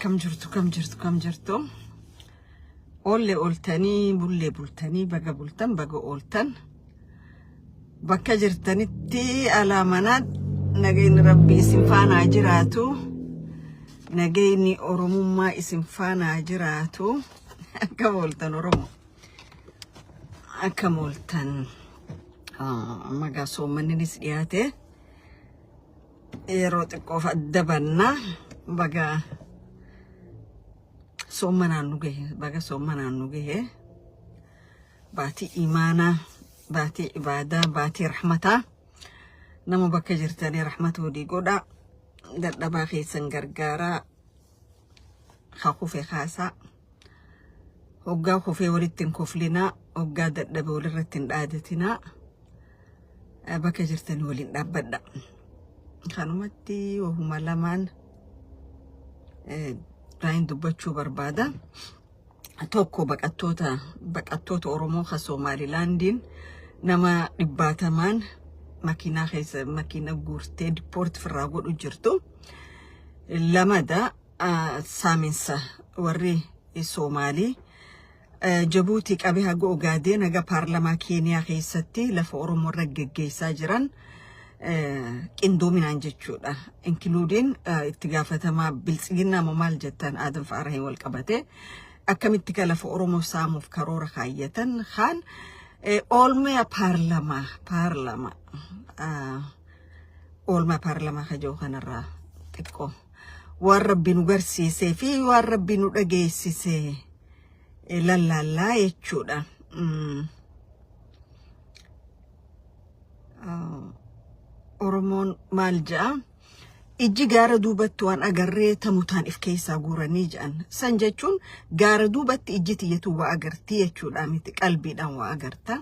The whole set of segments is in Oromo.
kam jirtu kam jirtu kam jirtu oolle ooltanii bullee bultanii baga bultan baga ooltan bakka jirtanitti alaa manaa nageenyi rabbi isin faana haa jiraatu nageenyi oromummaa isin faana haa jiraatu akka ooltan oromoo. akka mooltan magaa soommanninis dhiyaate yeroo xiqqoof adda banna baga soommanaan nu gahe baga soommanaan nu gahe baatii imaanaa baatii ibaadaa baatii rahmataa nama bakka jirtanii rahmata hodii godhaa dadhabaa keessan gargaaraa hakufe kaasaa Hoggaa kufee walitti hin koflinaa, hoggaa dadhabe walirratti hin dhaadatinaa. Eh, Bakka jirtanii waliin dhaabbadha. Kanumatti wahuma lamaan eh, raayin dubbachuu barbaada. Tokko baqattoota baqattoota Oromoo kan Somaalilaandiin nama dhibbaatamaan makiinaa keessa makiina guurtee dippoorti firraa godhu jirtu. Lamada saaminsa warri Soomaalii Jabuutii qabee haga Ogaadeen haga paarlamaa Keeniyaa keessatti lafa Oromoo irra geggeessaa jiran qindoominaan jechuudha. Inkiluudiin itti gaafatamaa biltsiginnaa moo maal jettan Adam Faarahiin wal qabatee akkamitti ka lafa Oromoo saamuuf karoora kaayyatan kaan oolmaa paarlamaa paarlamaa oolmaa paarlamaa kajoo kanarraa xiqqoo. waan rabbi nu garsiisee fi waan rabbi nu dhageessise eh, lallaallaa jechuudha. Mm. Ah, Oromoon maal ja'a? Ijji gaara duubatti waan agarree tamutaan if keessaa guuranii ja'an. San jechuun gaara duubatti ijji tiyyatu waa agartii jechuudha miti qalbiidhaan waa agarta.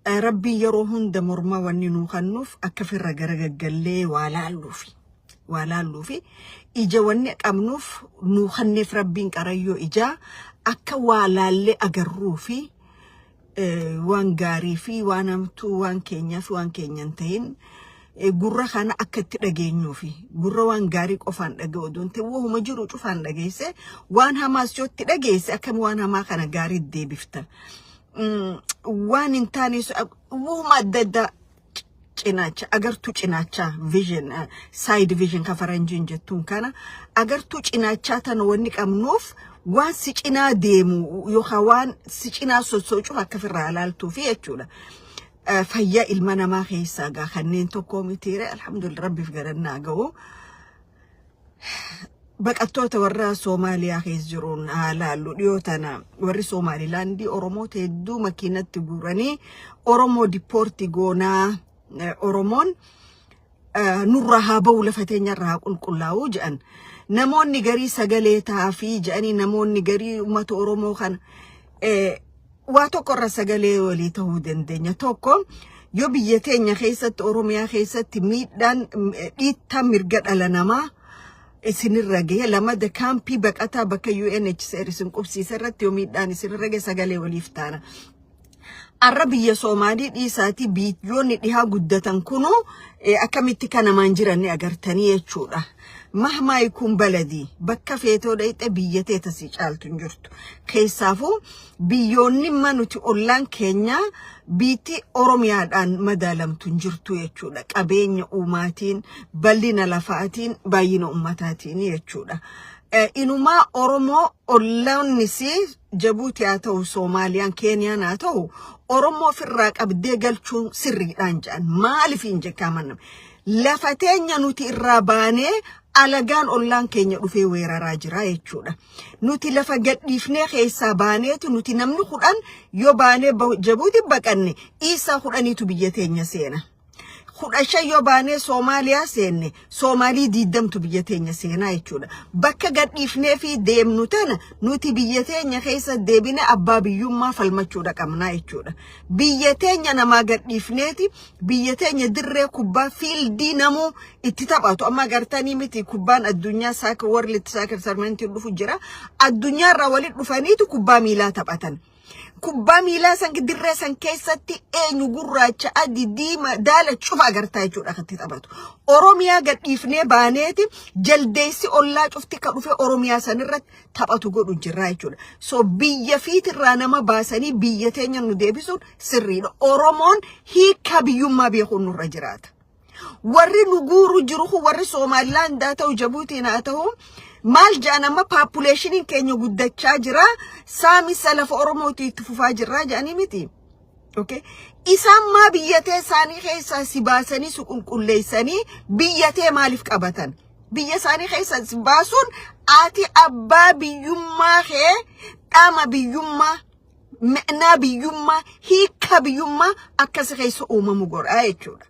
Rabbiin yeroo hunda morma wanni nuu kannuuf akka firra gara gaggallee waa laalluufi. Waa laalluufi ija wanni qabnuuf nuu kanneef rabbiin qarayyoo ijaa akka waa laallee agarruufi waan gaarii fi waan hamtuu waan keenyaa fi waan keenya hin ta'in gurra kana akka itti dhageenyuufi gurra waan gaarii qofaan dhaga'u oduun ta'e wahuma jiru cufaan dhageesse waan hamaas yoo itti dhageesse akkam waan hamaa kana gaarii deebifta. waan hin taane uuma adda addaa cinaacha agartuu cinaachaa vision side vision ka faranjiin jettuun kana agartuu cinaachaa tana wanni qabnuuf waan si cinaa deemu yookaan waan si cinaa sossoocuuf akka firraa ilaaltuu fi jechuudha. Fayyaa ilma namaa keessaa gaa kanneen tokkoo mitiire alhamdulillah rabbiif garannaa ga'u. baqattoota warra Soomaaliyaa keessa jiruun haa laallu dhiyoo tana warri Soomaalilaandii Oromoota hedduu makiinatti guuranii Oromoo dippoorti goonaa eh, Oromoon eh, nurraa haa ba'u lafa teenyarraa haa qulqullaa'u jedhan. Namoonni garii sagalee taafii jedhanii namoonni garii uummata Oromoo kana Eh, waa tokko irra sagalee walii ta'uu dandeenya. Tokko yoo biyya teenya keessatti Oromiyaa keessatti miidhaan mm, eh, dhiittaan mirga dhala namaa isinirra gahe lamada kaampii baqataa bakka UNHCR isin qubsiise irratti yoo miidhaan isinirra gahe sagalee waliif taana. Har'a biyya Soomaalii dhiisaatii biyyoonni dhihaa guddatan kunuu eh, akkamitti kanamaan jiran ni agartanii jechuudha. Mahmaayi kun baladii bakka feetoo dhayxe biyya tee tasii caaltu hin jirtu. Keessaafuu biyyoonni imma nuti ollaan keenya biitti Oromiyaadhaan madaalamtu hin jirtu jechuudha. Qabeenya uumaatiin, bal'ina lafaatiin, baay'ina ummataatiin jechuudha. Eh, Inumaa Oromoo ollaannis Jabuuti haa ta'u, Soomaaliyaan, Keeniyaan haa ta'u, Oromoo ofirraa qabdee galchuun sirriidhaan jedhan. Maaliif hin jekkaa manna? Lafa teenya nuti irraa baanee alagaan ollaan keenya dhufee weeraraa jira jechuudha. Nuti lafa gadhiifnee keessaa baaneetu nuti namni kudhan yoo baanee Jabuuti baqanne dhiisaa kudhaniitu biyya teenya seena. Kudha shan yoo baanee Soomaaliyaa seenne Soomaalii diiddamtu biyya teenya seenaa jechuudha. Bakka gadhiifnee fi deemnu tana nuti biyya teenya keessa deebine abbaa biyyummaa falmachuudha qabnaa jechuudha. Biyya teenya namaa gadhiifneeti biyya teenya dirree kubbaa fiildii namuu itti taphatu amma agartanii miti kubbaan addunyaa saaka world saakir sarmentiin dhufu jira addunyaa irraa walitti dhufaniitu kubbaa miilaa taphatan kubbaa miilaa san dirree san keessatti eenyu gurraacha adii diima daala cufa agartaa jechuudha kan itti taphatu oromiyaa gadhiifnee baaneeti jaldeessi ollaa cufti ka dhufe oromiyaa san irratti taphatu godhu jirraa jechuudha. So biyya fiitirraa nama baasanii biyya teenya nu deebisuun sirriidha. Oromoon hiika biyyummaa beekuun nurra jiraata. Warri nu guuru jiru kun warri Soomaaliyaan haa ta'u Jabuutiin haa ta'u maal jedhan amma paapuleeshiniin keenya guddachaa jira saamisa lafa Oromootii itti fufaa jirraa jedhanii miti. Okay? Isaan maa biyya tee isaanii keessaa si baasanii si qulqulleessanii biyya tee maaliif qabatan? Biyya isaanii keessaa si baasuun ati abbaa biyyummaa kee dhama biyyummaa ma'naa biyyummaa hiika biyyummaa akkasi keessa uumamu godhaa jechuudha.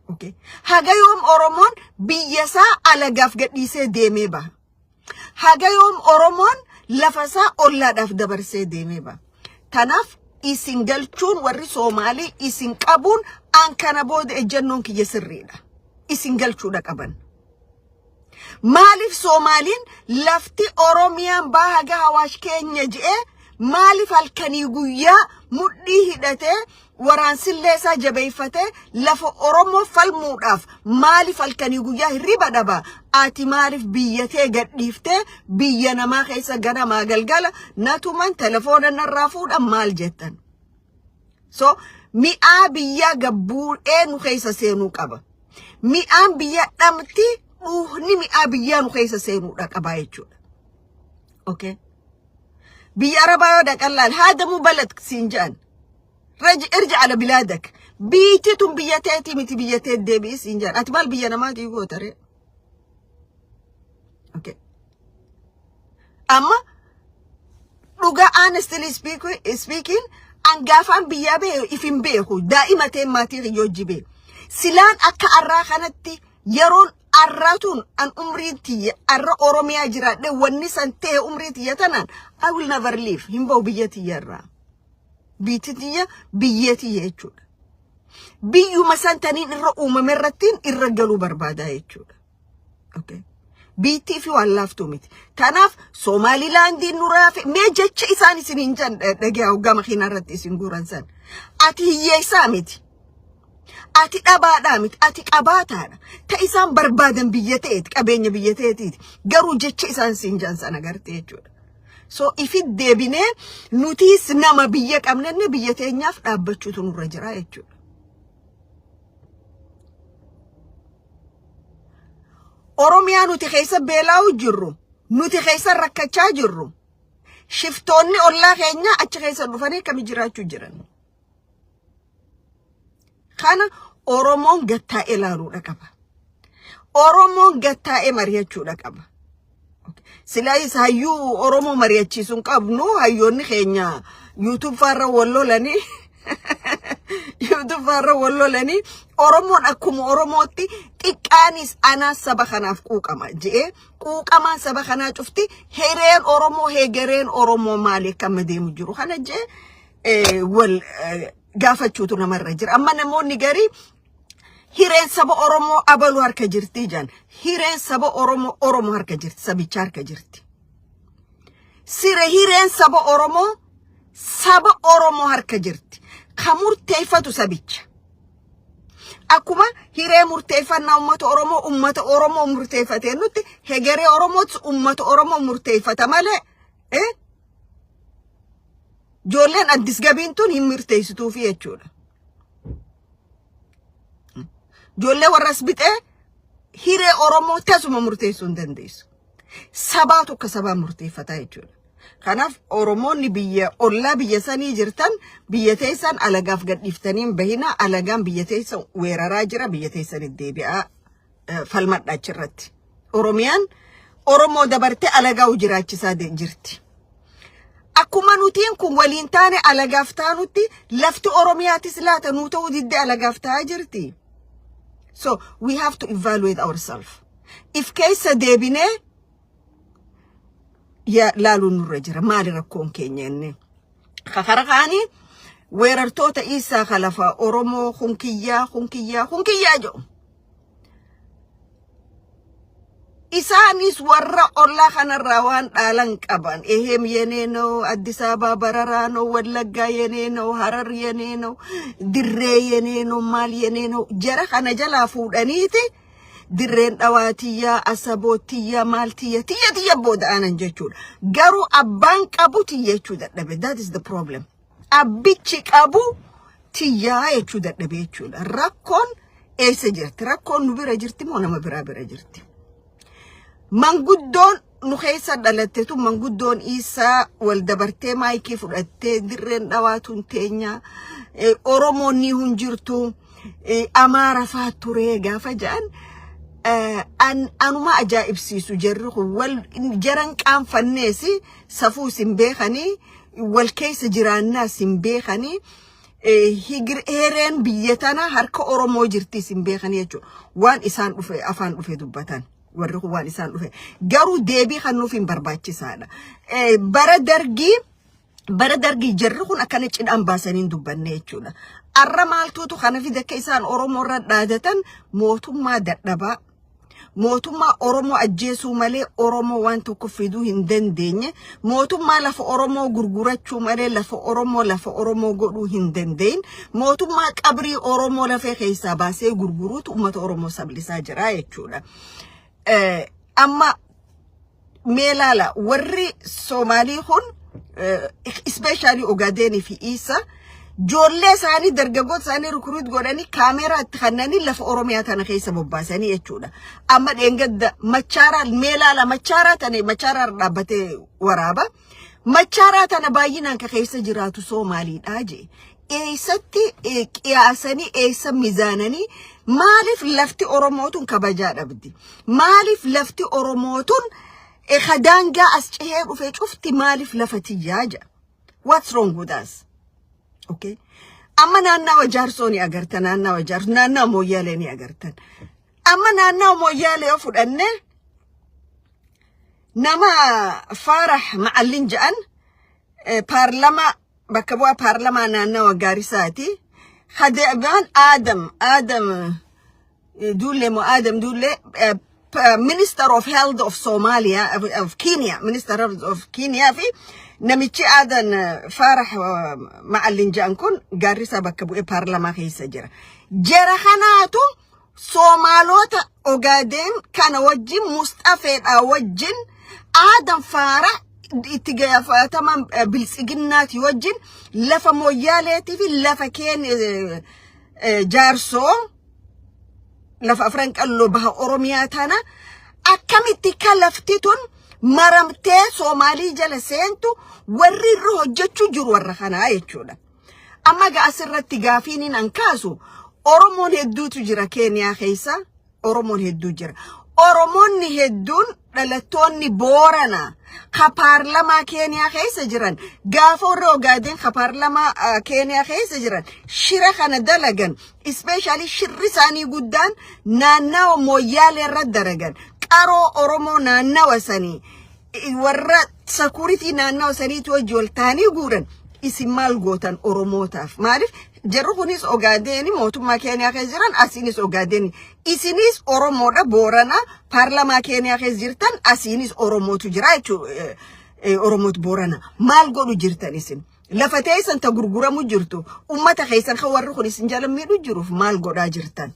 Okay? Haga yoom Oromoon biyya isaa alagaaf gadhiisee deemee baha. Haga yoom Oromoon lafa isaa ollaadhaaf dabarsee deemee ba. Kanaaf isin galchuun warri Soomaalii isin qabuun an kana booda ejjannoon kiyya sirriidha. Isin galchuudha qaban. Maaliif Soomaaliin lafti Oromiyaan baa haga hawaash keenya je'ee maaliif halkanii guyyaa mudhii hidhatee waraansillee isaa jabeeffatee lafa Oromoo falmuudhaaf maaliif halkanii guyyaa hirriba dhaba? Ati maaliif biyya tee gadhiiftee biyya namaa keessa ganamaa galgala natuman telefoona narraa fuudha maal jettan? So mi'aa biyyaa gabbuudhee nu keessa seenuu qaba. Mi'aan biyya dhamti dhuuhni mi'aa biyyaa nu keessa seenuudha qaba jechuudha. Okay? Biyya Arabaa yoo dhaqan laal haadamuu balad siin jedhan. Rej- irji ala bilaadak biitti tun biyya teetii miti biyya teet deebi'i siin jedha ati maal biyya namaatii gootaree okay. amma dhugaa honestly speak- speaking angaafaan biyyaa bee if hin beeku daa'ima ta'e maatii kiyya hojii bee silaan akka arraa kanatti yeroon arraa tun an umriin tiyya arra oromiyaa jiraadhe wanni san ta'e umrii tiyya tanaan I will never leave hin ba'u biyya tiyya irraa. Biitti tiyya biyyee tiyya jechuudha. Biyyuma san taniin irra uumame irrattiin irra galuu barbaada jechuudha. Okay. Biittii fi waan laaftuu miti. Kanaaf Somaalilaandiin nuraa fi mee jecha isaan isin hin jan dhagaa hoggama keenya irratti isin guuran san. Ati hiyyeessaa miti. Ati dhabaadhaa miti. Ati qabaataadha. Ta isaan barbaadan biyya ta'eeti qabeenya biyya ta'eetiiti. Garuu jecha isaan isin jan san agartee jechuudha. So ifi deebinee nutiis nama biyya qabnanne biyya teenyaaf dhaabbachuutu nurra jira jechuudha. Oromiyaa nuti keessa beelaa'u jirru, nuti keessa rakkachaa jirru, shiftoonni ollaa keenya achi keessa dhufanii akkami jiraachuu jiran. Kana Oromoon gattaa'ee ilaaluudha qaba. Oromoon gattaa'ee mari'achuudha qaba. Silaa isa hayyuu Oromoo mari'achiisu hin qabnu hayyoonni keenya YouTube faarra wal lolanii YouTube faarra wal lolanii Oromoon akkuma Oromootti xiqqaanis anaa saba kanaaf quuqama je'ee quuqamaan saba kanaa cufti hireen Oromoo hegereen Oromoo maali akka amma deemu jiru kana je'ee eh, wal eh, gaafachuutu namarra jira. Amma namoonni garii hireen saba Oromoo abaluu harka jirti jedhan. Hireen saba Oromoo Oromoo harka jirti, sabicha harka jirti. Sire hireen saba Oromoo saba Oromoo harka jirti. Kan murteeffatu sabicha. Akkuma hiree murteeffannaa uummata Oromoo uummata Oromoo murteeffatee nutti hegeree Oromootis uummata Oromoo murteeffata malee eh, Ijoolleen addis gabiin tun hin murteessituufi jechuudha. Ijoollee warras bixee hiree Oromoo tasuma murteessuu hin dandeessu. Sabaatu akka sabaa murteeffataa jechuudha. Kanaaf Oromoonni biyya ollaa biyya sanii jirtan biyya teessan alagaaf gadhiiftanii hin bahinaa alagaan biyya teessan weeraraa jira biyya teessanitti deebi'aa eh, falmadha achirratti. Oromiyaan Oromoo dabartee alagaa'u jiraachisaa de- jirti. Akkuma nutiin kun waliin taane alagaaf taanutti lafti Oromiyaatis laata nuu ta'uu didde alagaaf ta'aa jirti. So we have to evaluate ourselves. If keessa deebinee ya- laaluun nurra jira. Maali rakkoon keenya inni? Kakara kaanii weerartoota Iisaa Kalafaa Oromoo kun kiyyaa kun kiyyaa kun kiyyaa jedhu. isaanis warra ollaa kanarraa waan dhaalan qaban eheem yenee noo addis abaa bararaa noo wallaggaa yenee noo harar yenee noo dirree yenee noo maal yenee noo jara kana jalaa fuudhaniiti dirreen dhawaatiyyaa asabootiyyaa maaltiyya tiyya tiyya booda'anan jechuudha garuu abbaan qabu tiyyachuu dadhabe that is the problem abbichi qabu tiyyaa jechuu dadhabee jechuudha. Rakkoon eessa jirti? Rakkoon nu bira jirti moo nama biraa bira jirti? Manguddoon nu keessa dhalatte tun manguddoon isaa wal dabartee maayikii fudhattee dirreen dhawaatuun teenya eh, Oromoon ni hin jirtu eh, Amaara faa turee gaafa ja'an eh, an- anuma ajaa'ibsiisu jarri kun wal jaran qaanfanneesi safuu isin beekanii wal keessa jiraannaas hin beekanii higir eereen biyya tana harka Oromoo jirtiis hin beekanii jechuudha. Waan isaan dhufe afaan dhufe dubbatan. Warri kun waan isaan dhufe. Garuu deebii kan nuuf hin barbaachisaadha. Bara dargii bara dargii jarri kun akkana cidhaan baasanii hin dubbanne jechuudha. Arra maaltuutu kana fide akka isaan Oromoo irra dhaadatan mootummaa dadhabaa mootummaa Oromoo ajjeesuu malee Oromoo waan tokko fiduu hin dandeenye, mootummaa lafa Oromoo gurgurachuu malee lafa Oromoo lafa Oromoo godhuu hin dandeenye, mootummaa qabrii Oromoo lafee keessaa baasee gurguruutu uummata Oromoo sablisaa jira jechuudha. Eh, Amma mee laala warri Soomaalii kun ispeeshaalii Ogaadeenii fi Iisa joollee isaanii dargaggoota isaanii rukruut godhanii kaameeraa itti kannanii lafa Oromiyaa tana keessa bobbaasanii jechuudha. Amma dheengadda machaaraa mee laala machaaraa tana machaaraa dhaabbatee waraaba. Machaaraa tana baay'inaan ka keessa jiraatu Soomaaliidha jee. eessatti eh, qiyaasanii eessa mizaananii maaliif lafti oromootun kabajaa dhabdi maaliif lafti oromootun eh, ka daangaa as cehee dhufe cufti maaliif lafa tiyyaa jedha what's wrong with us okay amma naannawa jaarsoo ni agarta naannawa jaarsoo naannawa mooyyaalee ni agartan amma naannawa mooyyaalee yoo fudhanne nama faarah macallin jedhan eh, paarlama bakka bu'aa paarlamaa naannawa Gaarisaati. Hadeebaan Aadam Aadam Duullee moo Aadam Duullee Minister of Health of Somalia of Kenya Minister of Kenya fi namichi Aadan Faarax Ma'allin jedhan kun Gaarisaa bakka bu'ee paarlamaa keessa jira. Jara kanaatu Soomaalota Ogaadeen kana wajjin Musxafeedhaa wajjin aadan faara itti gaafatama biltsiginnaati wajjin lafa mooyyaaleetii fi lafa keen jaarsoo lafa afran qalloo baha Oromiyaa tana akkamitti ka lafti tun maramtee Soomaalii jala seentu warri irra hojjechuu jiru warra kanaa jechuudha. Amma ga asirratti gaafiinin an kaasu Oromoon hedduutu jira Keeniyaa keessa Oromoon hedduu jira. Oromoonni hedduun dhalattoonni Boorana ka paarlamaa Keeniyaa keessa jiran gaafa warri Ogaadeen ka paarlamaa ah, Keeniyaa keessa jiran shira kana dalagan ispeeshaalii shirri isaanii guddaan naannawa mooyyaalee irra daragan qaroo Oromoo naannawa sanii warra sakuritii naannawa saniitti hojii ol taanii guuran isin maal gootan oromootaaf maaliif jarri kunis ogaadeeni mootummaa keeniyaa keessa jiran asiinis ogaadeeni isinis oromoodha booranaa paarlamaa keeniyaa keessa jirtan asiinis oromootu jira jechuu oromootu boorana maal godhu jirtan isin Lafa teessan ta gurguramu jirtu ummata keessan kan warri kun isin jala miidhu jiruuf maal godhaa jirtan.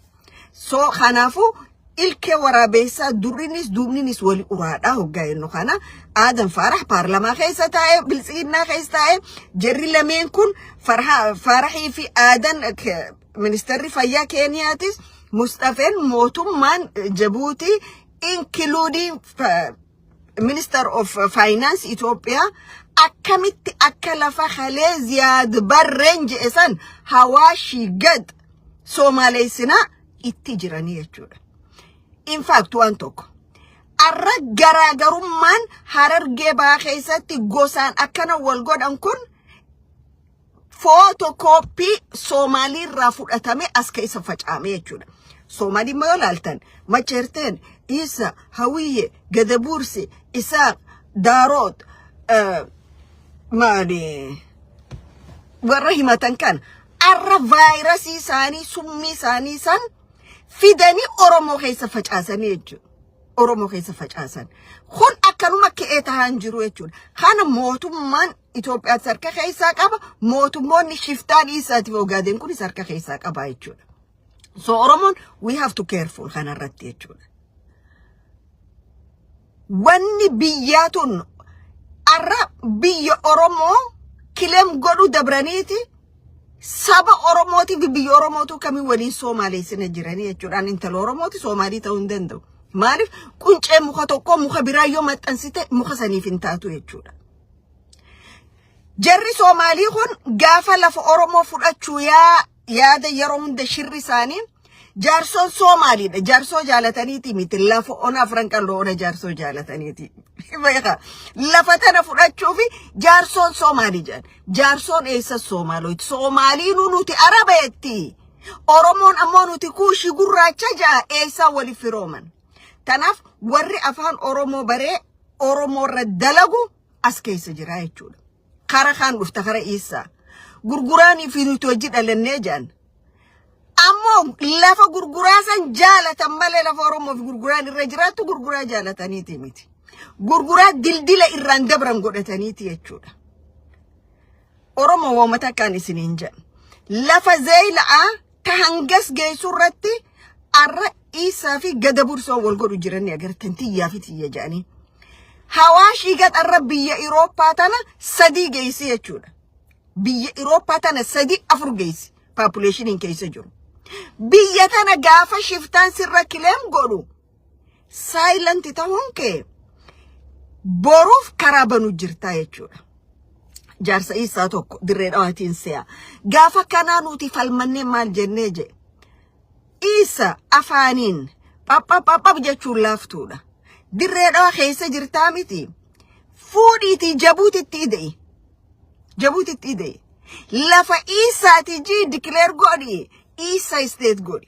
So kanaafuu ilkee waraabeessaa durrinis duubninis wali uraadhaa hoggaa jennu kana aadan faarax paarlamaa keessa taa'e biltsiginnaa keessa taa'e jarri lameen kun Farha- faaraxii fi aadan ke- ministeerri fayyaa keeniyaatis musxafeen mootummaan jabuutii inkiluudii Minister of Finance Itoophiyaa akkamitti akka lafa halee ziyaad barreen je'e san hawaashii gad soomaaleessinaa itti jiranii jechuudha. In fact waan tokko. Arra garaagarummaan harargee baa keessatti gosaan akkana wal godhan kun footokooppii Soomaalii irraa fudhatame as keessa facaame jechuudha. Soomaalii immoo yoo ilaaltan Macheerteen, Iisa, Hawiyye, Gadabuursi, Isaaq, Daaroot, eh, maali warra himatan kan arra vaayirasii isaanii summii isaanii san fidanii Oromoo keessa facaasanii jechuudha. Oromoo keessa facaasan. Kun akkanuma ka'ee tahaan jiru jechuudha. Kana mootummaan Itoophiyaatti harka keessaa qaba. Mootummoonni shiftaa dhiisaatiif ogaadeen kunis harka keessaa qaba jechuudha. So Oromoon we have to careful kanarratti jechuudha. Wanni biyyaa tun arra biyya Oromoo kilem godhu dabraniiti saba Oromootii fi biyya Oromootuu kamiin waliin Soomaaleessina jiranii jechuudhaan intala Oromooti Soomaalii ta'uu hin danda'u. Maaliif quncee muka tokkoo muka biraa yoo maxxansite muka saniif hin taatu jechuudha. Jarri Soomaalii kun gaafa lafa Oromoo fudhachuu yaa yaada yeroo hunda shirri isaanii jaarsoon Soomaaliidha. Jaarsoo jaalataniiti miti. Lafa ona afran qal'oo ona jaarsoo jaalataniiti. Beekaa. Lafa tana fudhachuu fi jaarsoon Soomaalii jedhan. Jaarsoon eessa Soomaalooti? Soomaaliinuu nuti Araba jetti. Oromoon ammoo nuti kuushii gurraacha ja'a eessaa waliif firooman. Tanaaf warri afaan Oromoo baree Oromoo irra dalagu as keessa jira jechuudha. Kara kaan dhufta kara iissaa. Gurguraanii fi nuti hojii dhalannee jaan. Ammoo lafa gurguraa san jaalatan malee lafa Oromoof gurguraan irra jiraattu gurguraa jaalataniiti miti. Gurguraa dildila irraan dabran godhataniiti jechuudha. Oromoo waamata akkaan isiniin jedha. Lafa zeeyila'aa Ka hangas geessu irratti arra dhiissaa fi gada bursoon wal godhu jiran agartan tiyyaa fi tiyya jedhanii. Hawaashii gaxarra biyya Irooppaa tana sadii geessi jechuudha. Biyya Irooppaa tana sadii afur geessi paapuleeshiniin keessa jiru. Biyya tana gaafa shiftaan sirra kileem godhu Saayilanti ta'uun kee boruuf karaa banu jirtaa jechuudha. Jaarsa isaa tokko dirree dhawaatiin se'a. Gaafa kanaa nuti falmannee maal jennee je. Isa afaaniin phaphaphapha jechuun laaftuudha. Dirree dhawaa keessa jirtaa miti. Fuudhiitii jabuutitti ide'i. Jabuutitti ide'i. Lafa isaati jii dikileer godhi. Isa isteet godhi.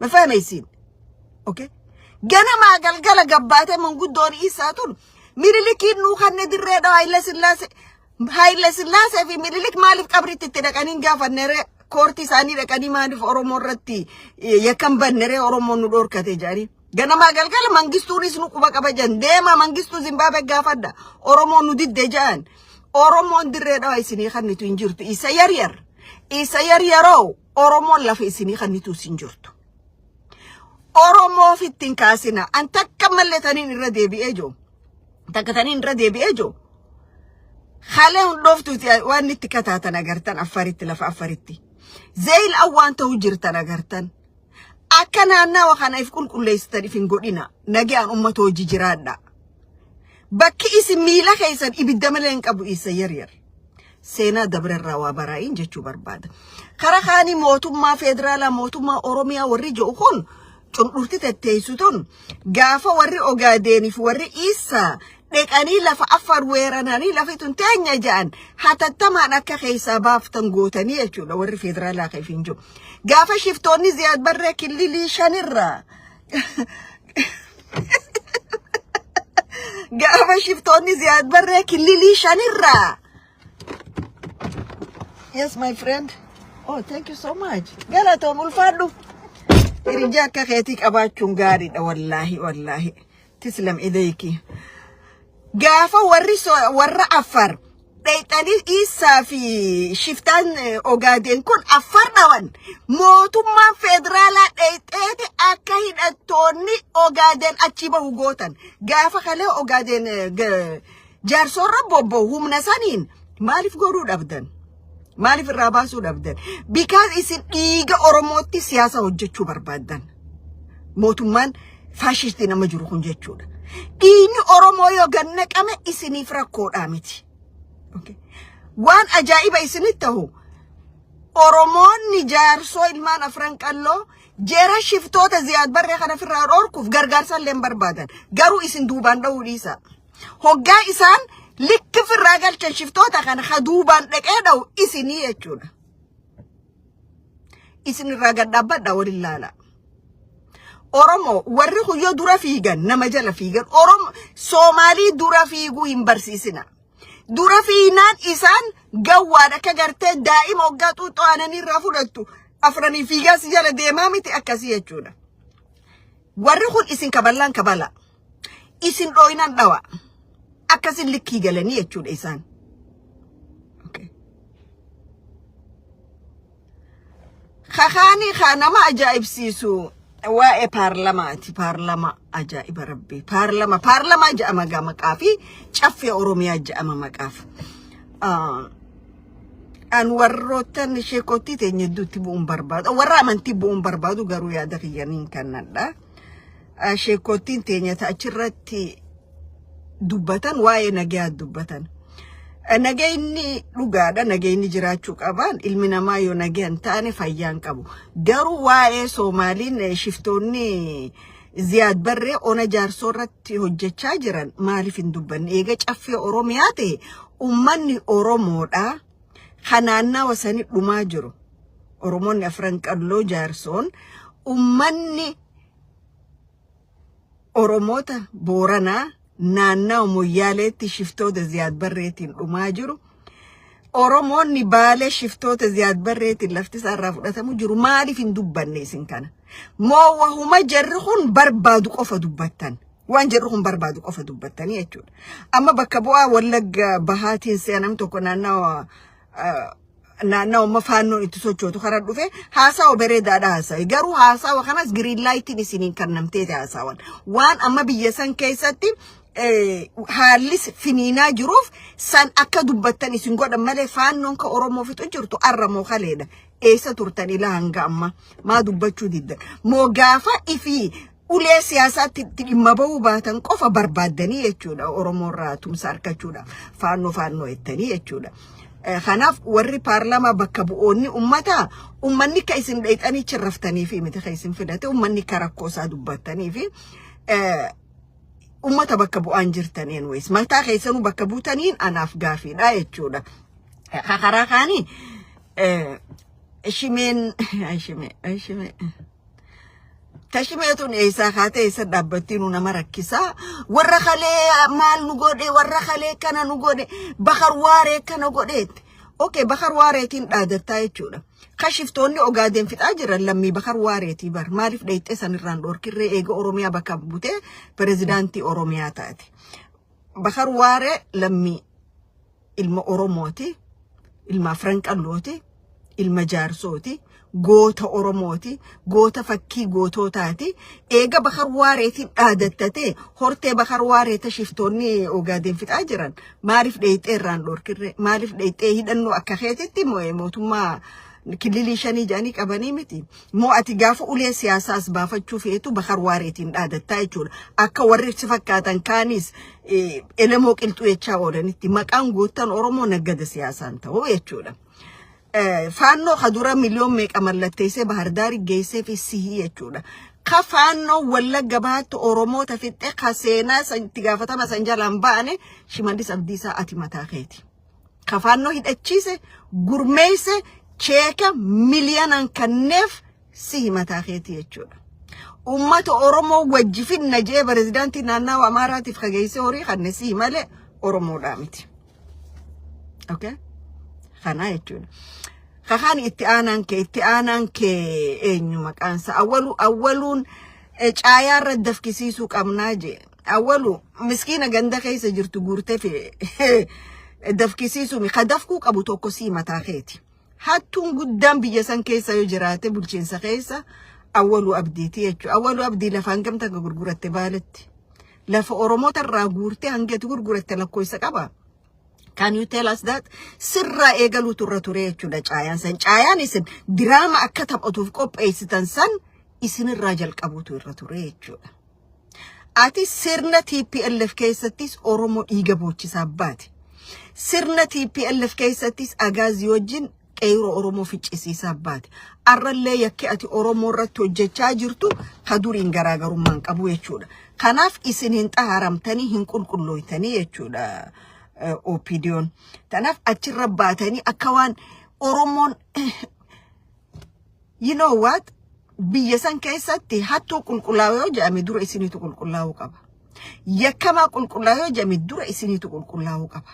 ma fahmaysiin okay ganamaa galgala gabbaatee manguddoon isaa tun mililikiin nuu kanne dirree dhaa haayila sillaase haayila sillaasee fi mililik maaliif qabritti itti dhaqanii hin gaafanneree koortii isaanii dhaqanii maaliif oromoo irratti eh, yakkan banneree oromoon nu dhorkate jedhanii ganamaa galgala mangistuunis nu quba qaba jedhan deemaa mangistuu zimbaabe gaafadha oromoon nu didde jedhan oromoon dirree dhaa isinii kannitu hin jirtu isa yaryar isa yaryaroo Oromoon lafa isinii kannituu isin jirtu. Oromoof ittiin kaasina. An takka malee taniin irra deebi'ee jiru. Takka taniin irra deebi'ee jiru. Halee hundooftuuti waan itti kataatan agartan affaritti lafa affaritti. Zeyil awwaan ta'uu jirtan agartan. Akka naannawa kana if qulqulleessitan if hin godhina. Nagaan uummata hojii jiraadha. Bakki isin miila keessan ibidda malee hin qabu isa yaryar. seenaa dabre irraa waa baraa'iin jechuu barbaada. Kara kaanii mootummaa federaalaa mootummaa Oromiyaa warri jedhu kun cundhurti tetteessu tun gaafa warri Ogaadeeniif warri Iissaa dheqanii lafa affaar weerananii lafi tun teenya ja'an hatattamaan akka keessaa baaftan gootanii jechuudha warri federaalaa keef hin jiru. Gaafa shiftoonni Ziyaad Barree killilii shanirraa Gaafa shiftoonni ziyaad barree killilii shanirraa. Yes, my friend. Oh, thank you so much. Galatoom ulfaadhu. Hiriyaa akka keetii qabaachuun gaariidha wallaahi wallaahi. Tislam Ideeki. Gaafa warri warra Affar dhayxanii Iisaa fi shiftaan Ogaadeen kun Affar dhawan mootummaan federaalaa dhayxeeti akka hidhattoonni Ogaadeen achi bahu gootan. Gaafa kalee Ogaadeen Jaarsoorra bobbo humna saniin maaliif godhuu dhabdan? Maaliif irraa baasuu dhabdan? Bikaas isin dhiiga Oromootti siyaasa hojjechuu barbaaddan. Mootummaan faashistii nama jiru kun jechuudha. Dhiigni Oromoo yoo gad naqame isiniif rakkoodhaa miti. Okay. Waan ajaa'iba isinitti ta'u Oromoonni jaarsoo ilmaan afran qalloo jara shiftoota ziyaad barree kana ofirraa dhorkuuf gargaarsa illee hin barbaadan. Garuu isin duubaan dha'uu dhiisaa. Hoggaa isaan likki firraa galchan shiftoota kana ha duubaan dhaqee dha'u isinii jechuudha. Isin irraa gad dhaabbadha waliin laala. Oromoo warri kuyyoo dura fiigan nama jala fiigan Oromoo Soomaalii dura fiiguu hin barsiisina. Dura fiignaan isaan gawwaan akka gartee daa'ima hoggaa xuuxxoo aananii irraa fudhattu afranii fiigaa si jala deemaa miti akkasii jechuudha. Warri kun isin kaballaan kabala. isin dhooynan dhawa akkasin likkii galanii jechuudha isaan. Kakaanii kaa nama ajaa'ibsiisu waa'ee paarlamaati. Paarlama ajaa'iba rabbii. Paarlama paarlamaa ja'ama gaa maqaa fi caffee Oromiyaa ja'ama maqaaf. An warroottan sheekottii teenya hedduutti bu'uun barbaadu. Warra amantii bu'uun barbaadu garuu yaada kiyyaniin kannadha. sheekkoottiin teenya ta achirratti dubbatan waa'ee nagayaa dubbatan. Nagayni dhugaadha nagayni jiraachuu qabaan ilmi namaa yoo nagayan taane fayyaan qabu. Garuu waa'ee Soomaaliin shiftoonni Ziyaad Barree ona jaarsoo irratti hojjechaa jiran maaliif hin dubbanne? Eega caffee Oromiyaa ta'e uummanni Oromoodha. Kan naannawa sanii dhumaa jiru. Oromoonni afran qalloo jaarsoon uummanni Oromoota Booranaa naannawa Moyyaaleetti shiftoota Ziyaad Barreetiin dhumaa jiru. Oromoonni Baalee shiftoota Ziyaad Barreetiin lafti isaarraa fudhatamu jiru. Maaliif hin dubbanne isin kana? Moo wahuma jarri kun barbaadu qofa dubbattan? Waan jarri kun barbaadu qofa dubbattanii jechuudha. Amma bakka bu'aa Wallagga bahaatiin si'a nam tokko naannawa naannawa amma faannoon itti sochootu kana dhufe haasawa bareedaadha haasawe garuu haasawa kanas giriin laayitiin isiniin kannamteeti haasawan waan amma biyya san keessatti haallis finiinaa jiruuf san akka dubbattan isin godhan malee faannoon ka Oromoo fixu jirtu arramoo kaleedha. Eessa turtan ilaa hanga amma maa dubbachuu diddan. Moo gaafa ifii ulee siyaasaatti itti dhimma ba'uu baatan qofa barbaaddanii jechuudha Oromoo irraa tumsa argachuudha faannoo faannoo jettanii jechuudha. Eh, Kanaaf warri paarlaamaa bakka bu'oonni ummataa ummanni ka isin dheexanii chirraftanii fi miti ka isin fidate ummanni ka rakkoo isaa dubbattanii fi eh, ummata bakka bu'aan jirtaniin wayis mataa keessanuu bakka buutaniin anaaf gaafiidha jechuudha. Eh, ka Karaa kaanii eh, shimeen ay, shimee ay, shimee. Tashimee tun eessaa kaatee eessa dhaabbattii nu nama rakkisaa warra kalee maal nu godhe warra kalee kana nu godhe bakar waaree kana godheetti. Okee bakar waareetiin dhaadattaa jechuudha. Kashiftoonni ogaadeen fixaa jiran lammii bakar waareetii bar maaliif dheeyxee sanirraan dhoorkirree eega Oromiyaa bakka butee pirezidaantii Oromiyaa taate. Bakar waaree lammii Ilma Oromooti, ilma Afran Qallooti, ilma Jaarsooti, goota Oromooti, goota fakkii gootootaati. Eega Bakar Waareetiin dhaadattatee hortee Bakar Waareeta shiftoonni Ogaadeen fixaa jiran maaliif dheeyxee irraan dhorkirree maaliif dheeyxee hidhannoo akka keetitti mootummaa kililii shanii jedhanii qabanii miti. Moo ati gaafa ulee siyaasaa as baafachuu feetu Bahar Waareetiin dhaadattaa jechuudha. Akka warri si fakkaatan kaanis eh, elemoo qilxuu jechaa oolanitti maqaan goottan Oromoo naggada siyaasaan ta'uu jechuudha. Eh, faannoo ka dura miliyoon meeqa mallatteessee bahardaari geessee fi sihii jechuudha. Ka faannoo wallagga baatti Oromoota fixxe ka seenaa san itti gaafatama san jalaan ba'ane shimallis abdiisaa ati mataa keeti. kafaannoo hidhachiise gurmeesse cheeka miliyoonaan kanneef si himataa keetii jechuudha. Uummata Oromoo wajji finna jee pirezidaantii naannawa Amaaraatiif kageessee horii kanne si malee Oromoodhaa miti. Okay? Kanaa jechuudha. Kakaan itti aanaan kee itti aanaan kee eenyu maqaansa awwalu awwaluun caayaarra dafkisiisuu qabnaa jee. Awwalu miskiina ganda keessa jirtu guurtee fi dafkisiisuumi. Ka dafkuu qabu tokko sii mataa keeti. Hattuun guddaan biyya san keessa yoo jiraate bulchiinsa keessa awwalu abdiiti jechuudha. Awwalu abdii lafa hangam takka gurguratte baaletti. Lafa Oromoota irraa guurtee hangati gurguratte lakkoofsa qaba. Can you tell us that? Sirraa eegaluutu irra ture jechuudha caayaan san. Caayaan isin diraama akka taphatuuf qopheessitan san isinirraa jalqabuutu irra ture jechuudha. Ati sirna TPLF keessattis Oromoo dhiiga boochisaa baate. Sirna TPLF keessattis agaazii wajjin qeeyiroo Oromoo ficcisiisaa baate. Arrallee yakki ati Oromoo irratti hojjechaa jirtu ka duriin garaagarummaa hin qabu jechuudha. Kanaaf isin hin xaharamtanii hin qulqullooytanii jechuudha eh, OPDOn. Kanaaf achirra baatanii akka waan Oromoon you know what biyya san keessatti hattuu qulqullaa'u yoo jedhame dura isiniitu qulqullaa'uu qaba yakkamaa qulqullaa'u yoo jedhame dura isiniitu qulqullaa'uu qaba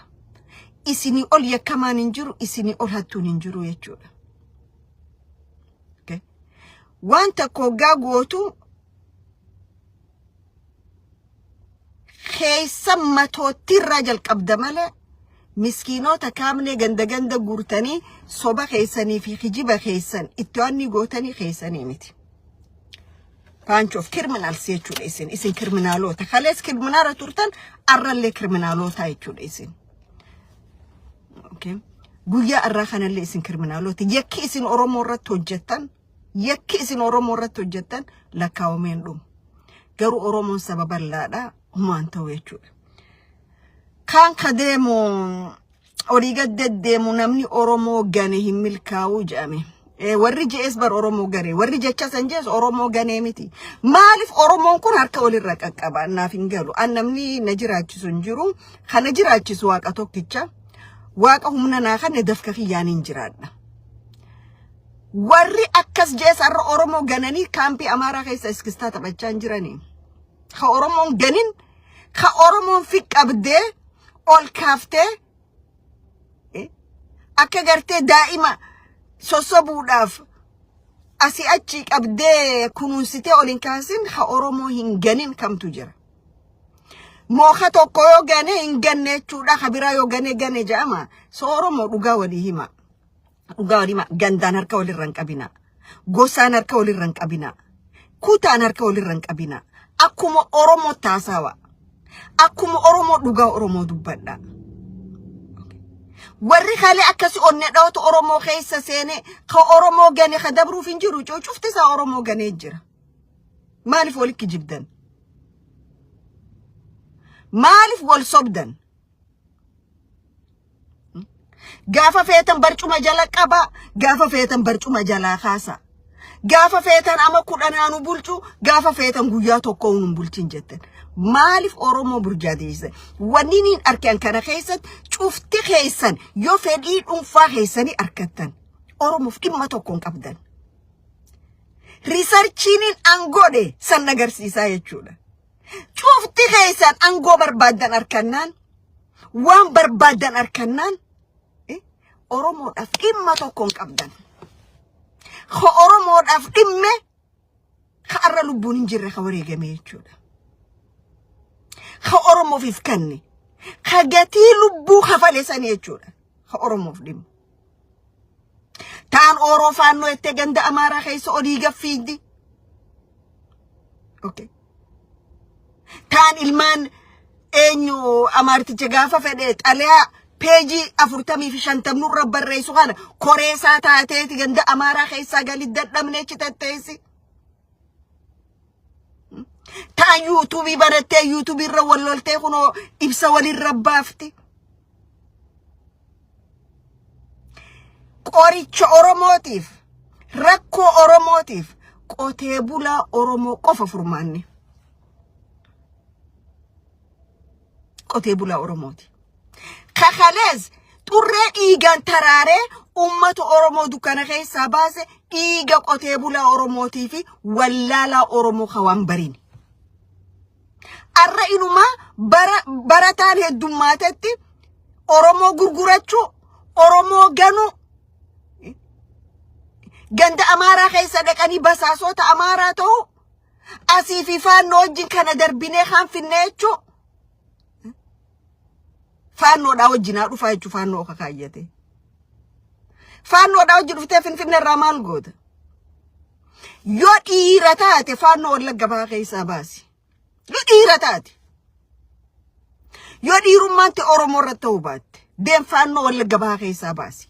isinii ol yakkamaan hin jiru isinii ol hattuun hin jiru jechuudha okay. waan tokko hoggaa gootu keessa matoottii irraa jalqabda malee miskiinoota kaamnee ganda ganda guurtanii soba keessanii fi kijiba keessan itti waannii gootanii keessanii miti. Bunch of criminals jechuudha isin. Isin kriminaaloota. Kalees kriminaala turtan arrallee kriminaaloota jechuudha isin. Okay. Guyyaa irraa kanallee isin kriminaaloota. Yakki isin Oromoo irratti hojjettan Yakki isin Oromoo irratti hojjettan lakkaawamee hin dhumu. Garuu Oromoon saba bal'aadha humaan ta'u jechuudha. Kaan ka deemu olii gad deddeemu namni Oromoo gane hin milkaa'uu jedhame. Eh, Warri je'es bar Oromoo gane. Warri jecha san je'es Oromoo ganee miti. Maaliif Oromoon kun harka olirra qaqqaba? Naaf hin galu. An namni na jiraachisu hin jiru. Kan na jiraachisu waaqa tokkicha. Waaqa humna naa kanne dafka kiyyaan hin jiraadha. Warri akkas jees har'a Oromoo gananii kaampii Amaaraa keessa iskistaa taphachaa hin jiranii. Ka Oromoon ganin, ka Oromoon fi qabdee, ol kaaftee, eh, akka gartee daa'ima sossobuudhaaf asii achi qabdee kunuunsitee ol hin kaasin ka Oromoo hin ganin kamtu jira. Mooka tokko yoo gane hin ganne jechuudha. Ka biraa yoo gane gane jedhama. So Oromoo dhugaa walii hima. Dhugaa walima gandaan harka walirra hin qabina. Gosaan harka walirra hin qabina. Kutaan harka walirra hin qabina. Akkuma Oromoo taasawa. Akkuma Oromoo dhugaa Oromoo dubbadha. Warri kalee akkasi onnee dhawatu Oromoo keessa seene ka Oromoo gane ka dabruuf hin jiru cuucufti isaa Oromoo ganee jira. Maaliif walitti jibdan? Maaliif wal sobdan? Gaafa feetan barcuma jala qabaa, gaafa feetan barcuma jalaa kaasaa. Gaafa feetan ama kudhanaa nu bulchu, gaafa feetan guyyaa tokko nu hin bulchin jettan. Maaliif Oromoo burjaadeessan? Wanni niin arkan kana keessatti cufti keessan yoo fedhii dhuunfaa keessanii arkattan Oromoof dhimma tokko hin qabdan. Riisarchiiniin an godhe san agarsiisaa jechuudha. Cufti keessan angoo barbaaddan arkannaan waan barbaaddan arkannaan eh, Oromoodhaaf dhimma tokko hin qabdan. Ka Oromoodhaaf dhimme ka arra lubbuun hin jirre ka wareegame jechuudha. Ka Oromoofiif kanne ka gatii lubbuu kafale sani jechuudha. Ka Oromoof dhimma. taan ooroo faannoo ettee ganda amaaraa keessa olii gaffiiddi okay. taan ilmaan eenyu amaarticha gaafa fedhe xalayaa peejii afurtamii fi shantamnu irra barreessu kana koreesaa taateeti ganda amaaraa keessaa galii dadhabnee chitatteessi. Taa yuutuubii banattee yuutuubii irra wal loltee kunoo ibsa walirra baafti. Qoricha Oromootiif rakkoo Oromootiif qotee bulaa Oromoo qofa furmaanne. Qotee bulaa Oromooti. kakalees xurree dhiigaan taraaree uummata Oromoo dukkana keessaa baase dhiiga qotee bulaa Oromootii fi wallaalaa Oromoo kawaan bariin. Arra inumaa bara barataan heddummaatetti Oromoo gurgurachuu, Oromoo ganuu, ganda Amaaraa keessa dhaqanii basaasota Amaaraa ta'uu, asii fi faannoo wajjin kana darbinee kan finneechuu, Faannoodhaa wajjin haa dhufaa jechuun faannoo oka kaayyate. Faannoodhaa wajjin dhuftee Finfinnee irraa maal goota? Yoo dhiira taate faannoo wallagga bahaa keessaa baasi. Yoo dhiira taate. Yoo dhiirummaatti Oromoo irratti ta'uu baatte deem faannoo wallagga bahaa keessaa baasi.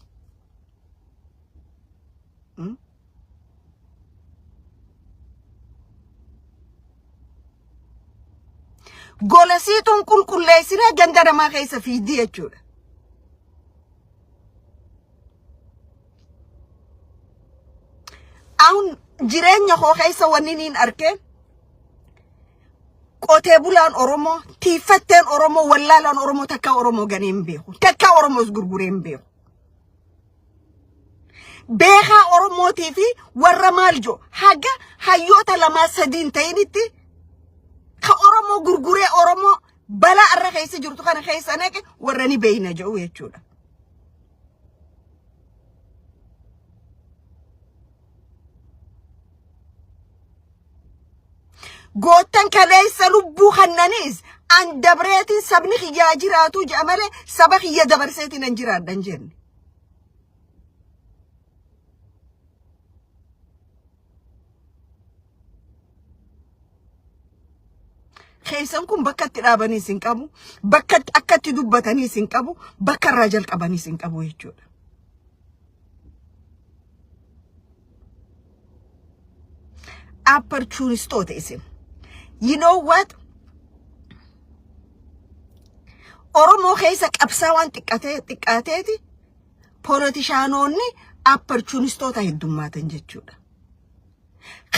Golesiituun qulqulleessinee ganda namaa keessa fiigdi jechuudha. Aun jireenya koo keessa wanni niin arke qotee bulaan Oromoo, tiiffatteen Oromoo, wallaalaan Oromoo takkaa Oromoo ganee hin beeku. Takkaa Oromoos gurguree hin beeku. beekaa Oromootii fi warra maal jo haga hayyoota lamaa sadiin ta'initti ka Oromoo gurguree Oromoo balaa irra keessa jirtu kana keessa naqe warra ni beeyna jedhu jechuudha. Goottan kaleessa lubbuu kannaniis an dabreetiin sabni kiyyaa jiraatuu jedha malee saba kiyya dabarseetiin an jiraadhan jenne. Keessan kun bakka itti dhaabaniis hin qabu, bakka itti- akka itti dubbataniis hin qabu, bakka irraa jalqabaniis hin qabu jechuudha. Opportunistoota isin. You know what? Oromoo keessa qabsaa waan xiqqatee xiqqaateeti polotishaanoonni opportunistoota heddummaatan jechuudha.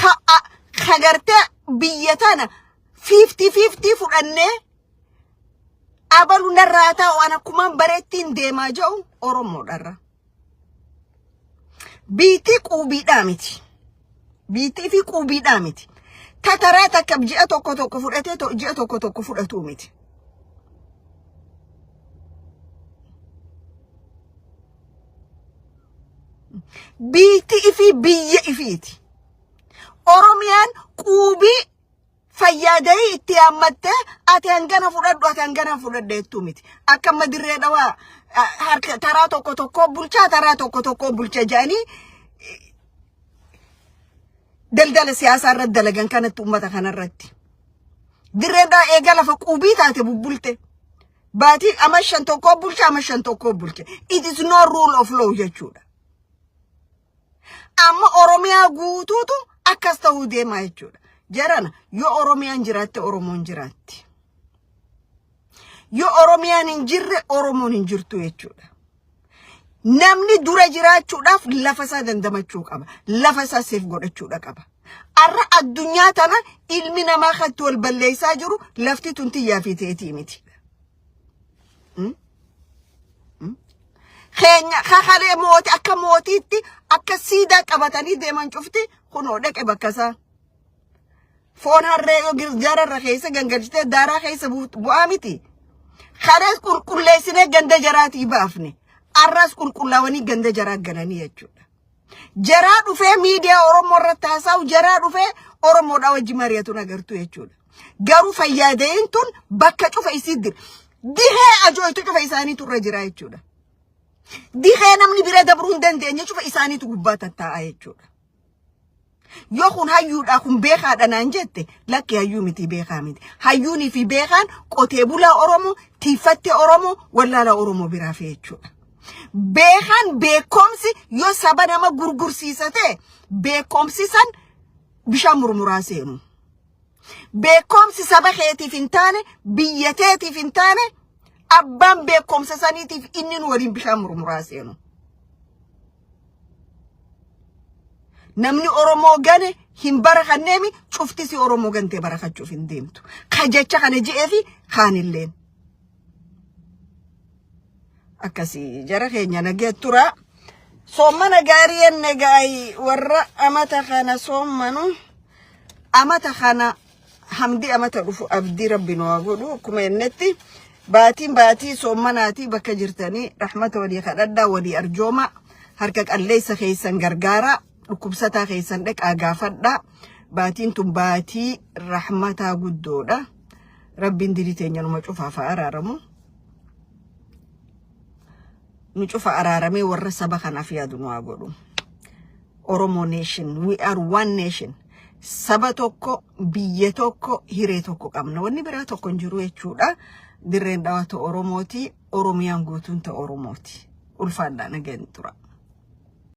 ka a- ka gartee biyya tana fiiftii fiiftii fudhannee abalu narraa taa'u an akkumaan bareettiin deemaa ja'u oromoodharra biitii quubiidhaa miti biitii fi quubiidhaa miti tataraa takka ji'a tokko tokko fudhatee to- ji'a tokko tokko fudhatuu miti biitti ifii biyya ifiiti oromiyaan quubii fayyaada'ii itti yaammattee ati hangana fudhadhu ati hangana fudhadhe jettuu miti akka amma dirree dhawaa ah, harka taraa tokko tokkoo bulchaa taraa tokko tokkoo bulcha jedhanii daldala siyaasaa irratti dalagan kanatti uummata kanarratti. Dirreen dhaa eega lafa quubii taate bubbulte. Baatii ama shan tokkoo bulche ama shan tokkoo bulche. It is no rule of law jechuudha. Amma Oromiyaa guutuutu akkas ta'uu deemaa jechuudha. Jarana yoo Oromiyaan jiraatte Oromoon jiraatti. Yoo Oromiyaan hin jirre Oromoon hin jirtu jechuudha. Namni dura jiraachuudhaaf lafa isaa dandamachuu qaba. Lafa isaa seef godhachuudha qaba. Har'a addunyaa tana ilmi namaa kan itti wal balleessaa jiru lafti tun tiyyaa fi teetii miti. Keenya kakalee mootii akka mootiitti akka siidaa qabatanii deeman cufti kunoo dhaqe bakka isaa. Foon harree yoo girjaara irra keessa gangalchitee daaraa keessa buut- bu'aa miti. Kanas qulqulleessinee ganda jaraatii baafne. Arras qulqullaawanii ganda jaraa galanii jechuudha. Jaraa dhufee miidiyaa Oromoo irratti haasa'u jaraa dhufee Oromoodhaa wajji mari'atu nagartu jechuudha. Garuu fayyadeen tun bakka cufa isii dir. Dihee ajooytu cufa isaaniitu irra jira jechuudha. Dihee namni bira dabruu hin dandeenye cufa isaaniitu gubbaa tattaa'a jechuudha. Yoo kun hayyuudhaa kun beekaadha naan jette lakki hayyuu miti beekaa miti. Hayyuunii fi beekaan qotee bulaa Oromoo, tiiffattee Oromoo, wallaalaa Oromoo biraa fi jechuudha. Beekaan beekomsi yoo saba nama gurgursiisa ta'e beekomsi san bishaan murmuraa seenu. Beekomsi saba keetiif hin taane biyya teetiif hin taane abbaan beekomsa saniitiif inni nu waliin bishaan murmuraa seenu. Namni Oromoo gane hin barakanneemi cuftisi Oromoo gantee barakachuuf hin deemtu. Ka jecha kana je'eefi kaanilleen. Akkasii jara keenya nagee turaa. Soommana gaarii enne gaayi warra amata kana soommanu amata kana Hamdi amata dhufu abdii rabbi nu haa godhu akkuma jennetti baatiin baatii soommanaatii bakka jirtanii rahmata walii kadhadhaa walii arjoomaa harka qalleessa keessan gargaaraa dhukkubsataa keessan dhaqaa gaafadhaa baatiin tun baatii rahmataa guddoodha rabbiin dirii teenya numa cufaaf haa araaramu. nu cufa araaramee warra saba kanaaf yaadu nu haa godhu. Oromo nation, we are one nation. Saba tokko, biyya tokko, hiree tokko qabna. Wanni biraa tokko hin jiru jechuudha. Dirreen dhawaa ta Oromooti, Oromiyaan guutuun ta Oromooti. Ulfaadhaa nageen tura.